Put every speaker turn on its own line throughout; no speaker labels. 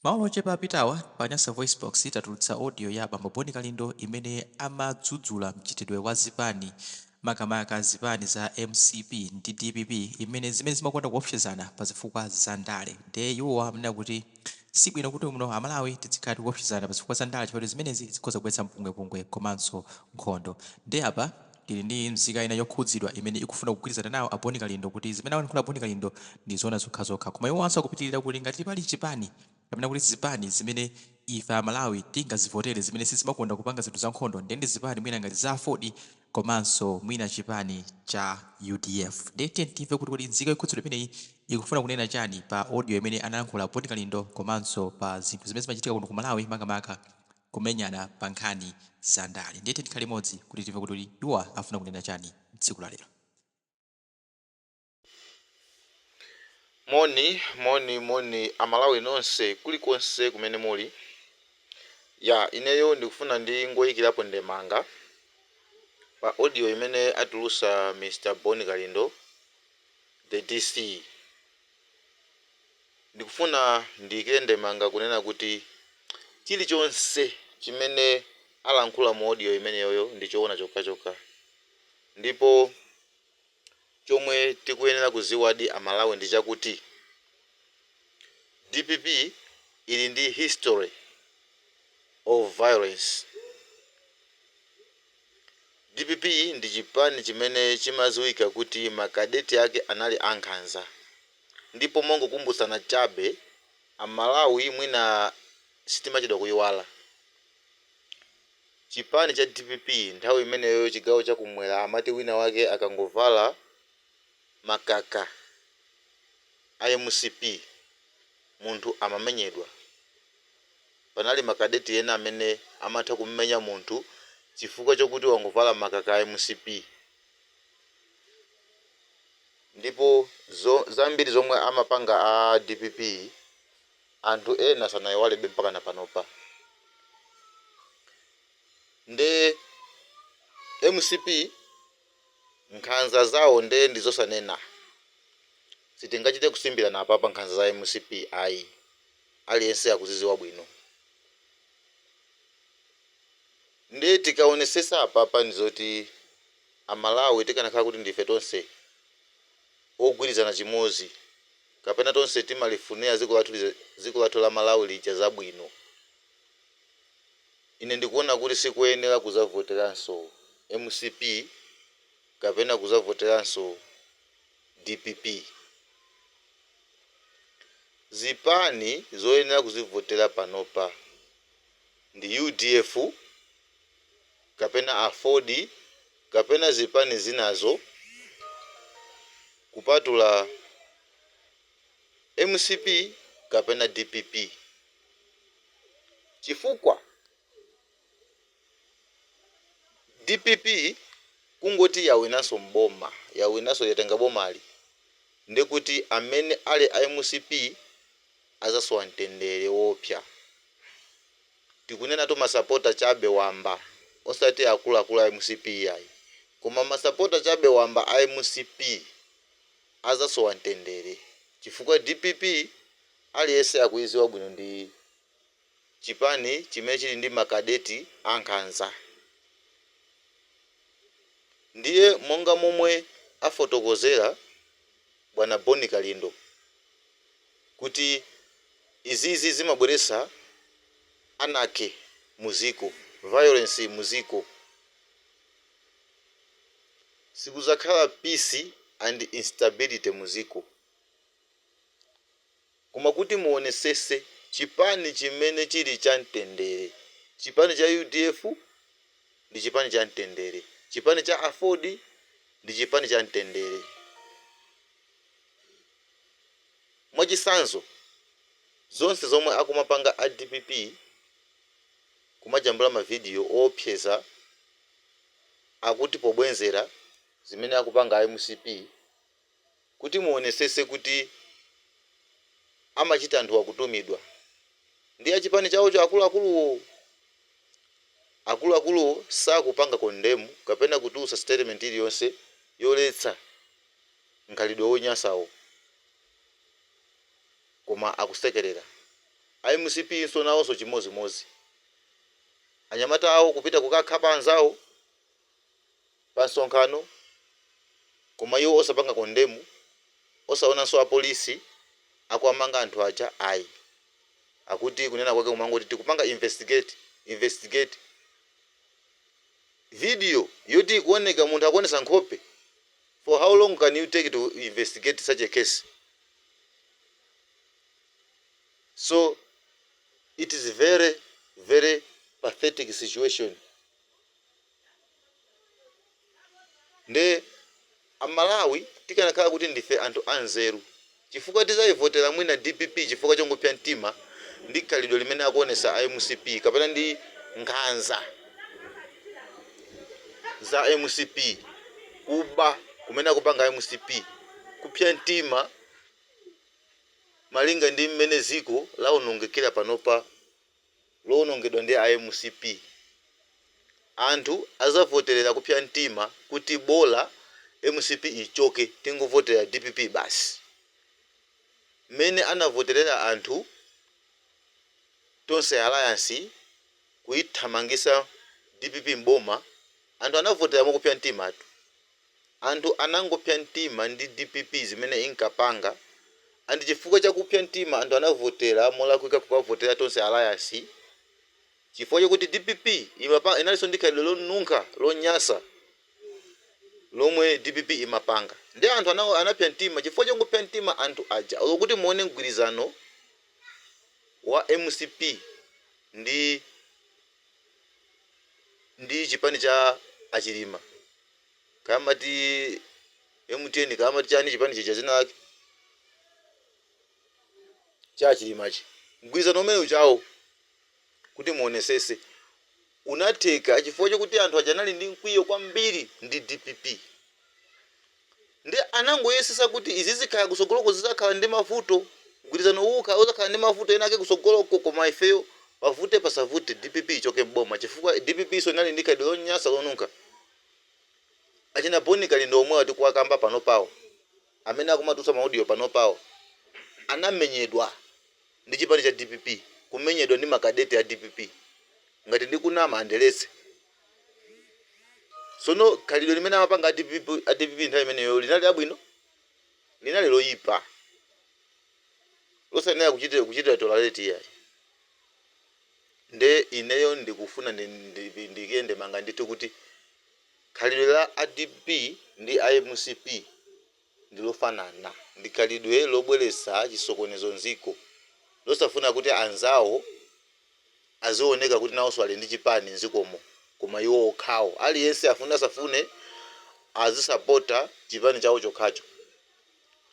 Maola ochepa apitawa pa Nyasa VoiceBox tatulutsa audio ya bambo Bon Kalindo imene amadzudzula mchitidwe wa zipani makamaka zipani za mcp ndi dpp imene zimene zimakonda kuopsezana pa zifukwa za ndale nde iwowa amanena kuti sibwino kuti muno amalawi tidzikhala tikuopsezana pa zifukwa za ndale chifukwa choti zimenezi zikhoza kubweretsa mpungwepungwe komanso nkhondo nde apa Tili ndi nzika ina yokhudzidwa imene ikufuna kugwirizana nawo a Boni Kalindo kuti zimene alankhula a Boni Kalindo ndi zoona zokhazokha. Koma iwowanso akupitilira kuti ngati pali chipani kapena kuti zipani zimene ife a Malawi tingazivotere zimene sizimakonda kupanga zinthu za nkhondo nde ndi zipani mwina ngati za aford komanso mwina chipani cha udf. Nde tiyeni timve kuti kodi nzika yokhudzidwa imeneyi ikufuna kunena chani pa audio imene analankhula a Boni Kalindo komanso pa zinthu zimene zimachitika kuno ku Malawi makamaka kumenyana pa nkhani za ndale ndiye tiyeni tikhale limodzi kuti timve kuti iwowa afuna kunena chani tsiku la
lero. Moni moni moni amalawi nonse kulikonse kumene muli ya ineyo ndikufuna ndingoikirapo ndemanga pa audio imene atulusa Mr Bon Kalindo the DC Ndikufuna ndiike ndemanga kunena kuti chilichonse chimene alankhula mu audio imeneyoyo ndi choona chokhachokha ndipo chomwe tikuyenera kuziwadi a Malawi ndi chakuti dpp ili ndi history of violence. Dpp ndi chipani chimene chimaziwika kuti ma cadet ake anali a nkhanza ndipo mongokumbutsana chabe a Malawi mwina sitimachedwa kuiwala chipani cha dpp nthawi imeneyo chigawo cha kumwera amati wina wake akangovala makaka a mcp munthu amamenyedwa. Panali ma cadet ena amene amatha kumumenya munthu chifukwa chokuti wangovala makaka a mcp ndipo zambiri zomwe amapanga a dpp anthu ena sanaiwalebe mpakana panopa nde mcp Nkhanza zawo nde ndizosanena. Sitingachite kusimbirana apapa nkhanza za mcp ayi. Aliyense akuziziwa bwino. Nde tikaonesesa apapa ndizoti a Malawi tikanakhala kuti ndife tonse ogwirizana chimozi kapena tonse timalifunira dziko lathu la Malawi lija zabwino. Ine ndikuona kuti sikuyenera kuzavoteranso mcp kapena kuzavoteranso dpp. Zipani zoyenera kuzivotera panopa ndi udf kapena aford kapena zipani zinazo kupatula mcp kapena dpp. chifukwa dpp kungoti yawinanso mboma yawinanso yatenga bomali ndekuti amene ali a mcp azasowa mtendere woopsya tikunenatu masapota chabe wamba osati akuluakulu a mcp iyayi koma masapota chabe wamba a mcp azasowa mtendere chifukwa dpp aliyense akuiziwa bwino ndi chipani chimene chili ndi ma cadet ankhanza ndiye monga momwe afotokozera bwana Bon Kalindo kuti izizi zimabweresa anarchy muziko, violence muziko, sikuzakhala peace and instability muziko. Koma kuti muonesese chipani chimene chili cha mtendere chipani cha udf ndi chipani cha mtendere chipani cha aford ndi chipani cha mtendere mwachisanzo zonse zomwe akumapanga a dpp kumajambula ma video oopseza akuti pobwenzera zimene akupanga a mcp kuti muonesese kuti amachita anthu akutumidwa ndi achipani chawocho akuluakuluwo? Akuluakuluwo sakupanga condemn kapena kutulutsa statement iliyonse yoletsa nkhalidwe wonyansawo koma akusekerera. A mcp nso nawonso chimodzimodzi. Anyamata awo kupita kukakhapa anzawo? pa nsonkhano koma iwo osapanga condemn osaonanso apolisi akuwamanga anthu aja ayi akuti kunena kwake kumangoti tikupanga investigate investigate video yoti ikuoneka munthu akuonesa nkhope for how long can you take to investigate such a case so it is very very pathetic situation Nde a Malawi tikanakhala kuti ndife anthu a nzeru chifukwa tizaivotela mwina dpp chifukwa chongopsa mtima ndi khalidwe limene akuonesa a mcp kapena ndi nkhanza za mcp, kuba kumene akupanga a mcp, kupsa mtima malinga ndi mmene ziko laonongekera panopa. lowonongedwa ndi a mcp anthu azavotelera kupsa mtima kuti bola mcp ichoke tingovotera dpp basi mmene anavotelera anthu Tonse alliance kuithamangisa dpp m'boma anthu anavotera mokupsa mtimatu. Anthu anangopsa mtima ndi dpp zimene inkapanga and chifukwa cha kupsa mtima anthu anavotera molakwika kukavotera Tonse alliance chifukwa chokuti dpp inalinso ndi khalidwe lonunkha lonyasa lomwe dpp imapanga nde anthu anapsa mtima chifukwa chongopsa mtima anthu aja olo kuti muone mgwirizano wa mcp ndi ndi chipani cha a Chilima kaya amati MTN kaya amati chani chipani chija zina lake cha a Chilimachi mgwirizano umene uja wo kuti muonesese unatheka chifukwa chokuti anthu aja anali ndi mkwiyo kwambiri ndi dpp Nde anangoyesesa kuti izi zikaya kusogoloko zizakhala ndi mavuto, mgwirizano uwu ukaya uzakhala ndi mavuto ena ake kusogoloko koma ifeyo pavute pasavute dpp ichoke m'boma chifukwa dpp so inali ndi khalidwe lonyasa lonunkha. Achina Boni Kalindo omwewa tikuwakamba panopawa amene akumatulutsa ma audio panopawa anamenyedwa ndi chipani cha dpp, kumenyedwa ndi makadeti a dpp. Ngati ndikunama andiletse. Tsono khalidwe limene amapanga a dpp nthawi imeneyo linali labwino? Linali loyipa, losayenera kuchitira tolerate iyayi. Nde ineyo ndikufuna ndi, ndi, ndi, ndiike ndemanga nditi kuti khalidwe la a dpp ndi a mcp, ndi lofanana ndi khalidwe lobweretsa chisokonezo m'dziko, losafuna kuti anzawo azioneka kuti nawonso ali ndi chipani m'dzikomo koma iwo okhawo, aliyense afune asafune azisapota chipani chawo chokhacho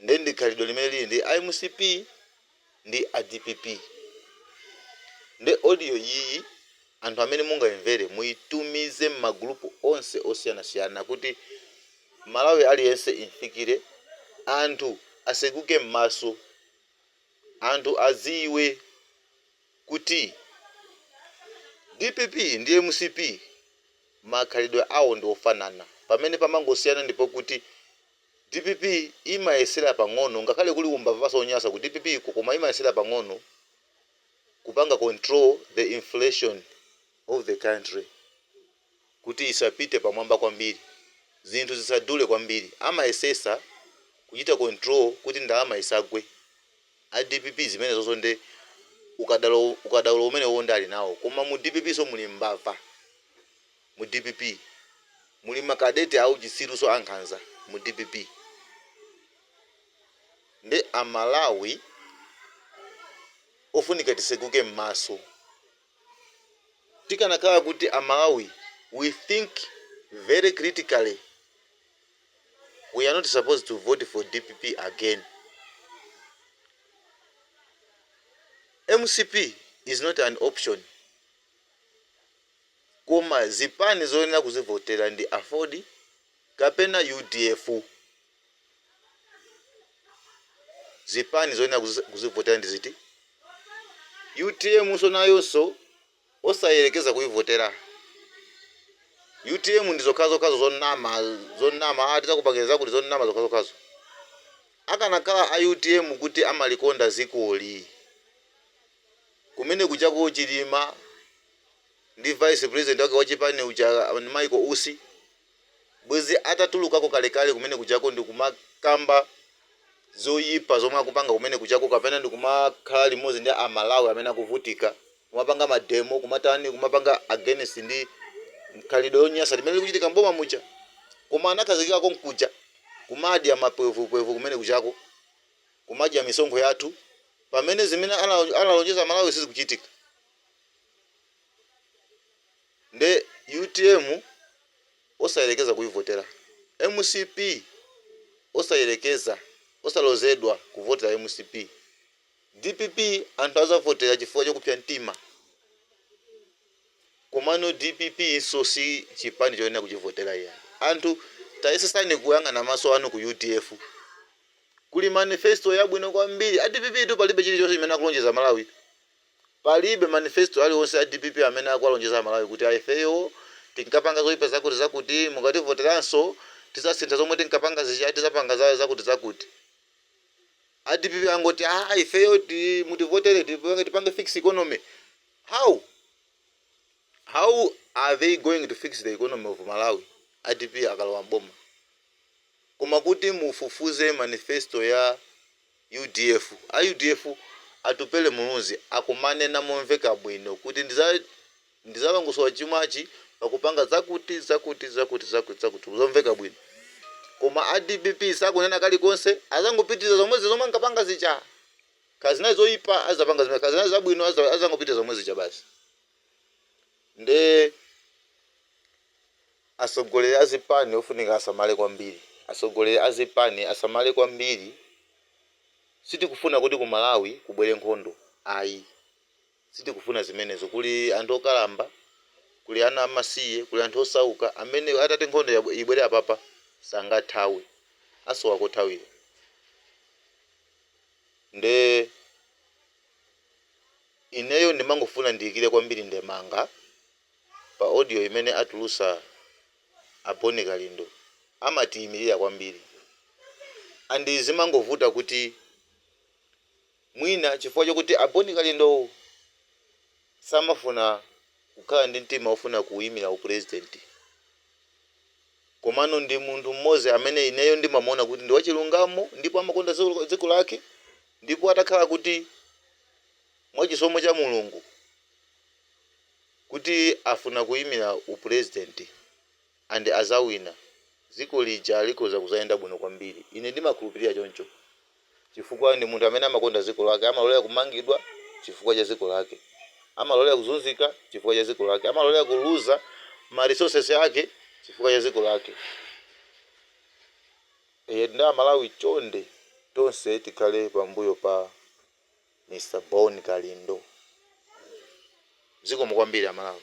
nde ndi khalidwe limene lili ndi mcp. ndi a dpp nde audio iyi anthu amene mungaimvere muitumize mma group onse osiyanasiyana kuti Mmalawi aliyense imfikire anthu aseguke mmaso anthu adziwe kuti dpp ndi mcp makhalidwe awo ndi ofanana pamene pamangosiyana ndipokuti Dpp imayesela pang'ono ngakhale kuli umbavaso onyasa ku dpp ko koma imayesela pang'ono kupanga control the inflation of the country kuti isapite pamwamba kwambiri zinthu zisadule kwambiri amayesesa kuchita control kuti ndalama isagwe a dpp zimenezozo nde ukada- ukadaulo umenewowo nde ali nawo koma mu dpp so muli mbava Mu dpp muli ma cadet auchitsirunso ankhanza mu dpp nde a Malawi ofunika tiseguke mmaso. Tikanakhala kuti a Malawi we think very critically we are not supposed to vote for dpp again. Mcp is not an option Koma zipani zoyenera kuzivotera ndi Aford kapena UDF. Zipani zoyenera kuzivotera ndi ziti? Utm nso nayonso osayerekeza kuivotera. Utm ndi zokhazokhazo zonama, zonama ah tidzakupangirani zakuti zonama zokhazokhazo. Akanakhala a utm kuti amalikonda dzikoli, kumene kujako Chilima, ndi vice president wake wa chipani uja Michael Usi bwezi atatulukako kalekale kumene kujako ndikumakamba zoyipa zomwe akupanga kumene kujako kapena ndikumakhala limodzi ndi a Malawi amene akuvutika kumapanga mademo kumatani kumapanga against ndi khalidwe lonyasa limene likuchitika m'boma muja koma anakhazikika konkuja kumadya mapwevupwevu kumene kujako kumadya misonkho yathu pamene zimene ana- analonjeza Malawi sizikuchitika Nde utm osayelekeza kuyivotela mcp osayelekeza osalozedwa kuvotela mcp dpp anthu azavotela chifukwa chokupsa mtima komano dpp so si chipani choyenera kuchivotela iyayi anthu tayesesani kuyang'ana maso anu ku udf kuli manifesto yabwino kwambiri a dpp tu palibe chilichonse chimene akulonjeza amalawi Palibe manifesto aliwonse a dpp amene akuwalonjeza a Malawi kuti a ifeyo tinkapanga zoipa zakuti zakuti mukativoteranso tizasintha zomwe tinkapanga zija tizapanga za zakuti zakuti. A dpp angoti aah ifeyo ti mutivotere tipange tipange fix economy. How? How are they going to fix the economy of Malawi a dpp akalowa m'boma? Koma kuti mufufuze manifesto ya. Udf, a udf Atupele Muluzi akumanena momveka bwino kuti ndizalongosola chumwachi pakupanga zakuti zakuti zakuti zakuti zakuti zomveka bwino koma a dpp sakunena kalikonse azangopitiliza zomwezi zomwe ankapanga zija kaya zinali zoipa azizapanga zimenezo kaya zinali zabwino azizangopitiliza zomwezija basi. Nde atsogoleri a zipani ofunika asamale kwambiri. Atsogoleri a zipani asamale kwambiri. Sitikufuna kuti ku Malawi kubwere nkhondo ayi. Sitikufuna zimenezo. Kuli anthu okalamba, kuli ana amasiye, kuli anthu osauka amene atati nkhondo ibwere apapa sangathawe. Asowa kothawira. Nde. Ineyo ndimangofuna ndiyikire kwambiri ndemanga pa audio imene atulusa a Bon Kalindo amatiyimilira kwambiri and zimangovuta kuti mwina chifukwa chokuti a Bon Kalindowo samafuna kukhala ndi mtima ofuna kuyimira upresident komano ndi munthu m'modzi amene ineyo ndimamuona kuti ndi wachilungamo ndipo amakonda dziko lake ndipo atakhala kuti mwa chisomo cha Mulungu kuti afuna kuyimira upresident and azawina dziko lija likhoza kuzayenda bwino kwambiri ine ndimakhulupilira choncho chifukwa ndi munthu amene amakonda dziko lake amalolera kumangidwa chifukwa cha dziko lake amalolera kuzunzika chifukwa cha dziko lake amalolera kuluza ma resources ake chifukwa cha dziko lake eya nde a Malawi chonde tonse tikhale pambuyo pa Mr Bon Kalindo zikomo kwambiri a Malawi.